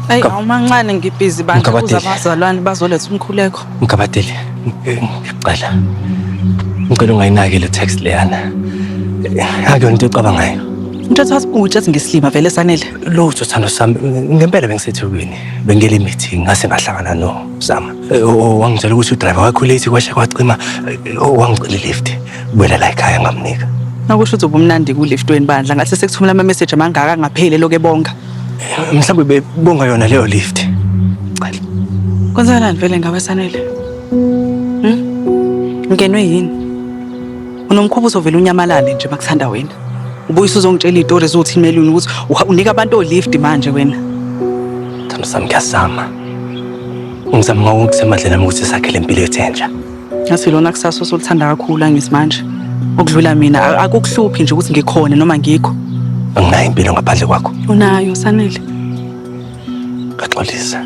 Ayi awumancane ngibhizi bantu kuza abazalwane bazoletha umkhuleko. Mgabadeli. Ngicela. Ngicela ungayinaki le text leyana. Akuyona into ocabangayo. Into ethatha ubhuti ethi ngisilima vele sanele. Lutho thando sami ngempela bengisethekwini. Bengele imeeting ngase ngahlangana no Zama. Wangitshela ukuthi udriver wakho late kwashe kwacima wangicela lift. Kubuyela la ekhaya ngamnika. Nakusho ukuthi ubumnandi kulift wenibandla ngathi sekuthumela ama message amangaka angapheli lokho ebonga. Mhlawumbe bebonga yona leyo lift. Cela. Kwenzakalani vele ngawe Sanele? Hm? Ngenwe yini? Unomkhuba uzovela unyamalale nje makuthanda wena. Ubuye usuzongitshela izitori zokuthi imeluni ukuthi uha- unika abantu olift manje wena. Thando sami ngiyasama. Ngizama ngawo ngisemadleni ami ukuthi sakhe lempilo ethenja. Ngathi lona kusasa osolithanda kakhulu angisimanje. Ukudlula mina akukuhluphi nje ukuthi ngikhona noma ngikho. Anginayo impilo ngaphandle kwakho. Unayo sanele. Ngaxolisa.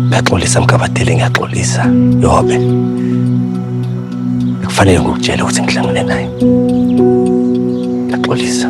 Ngaxolisa mgabadele ngiyaxolisa. Yobe. Kufanele ngikutshele ukuthi ngihlangene naye. Ngaxolisa.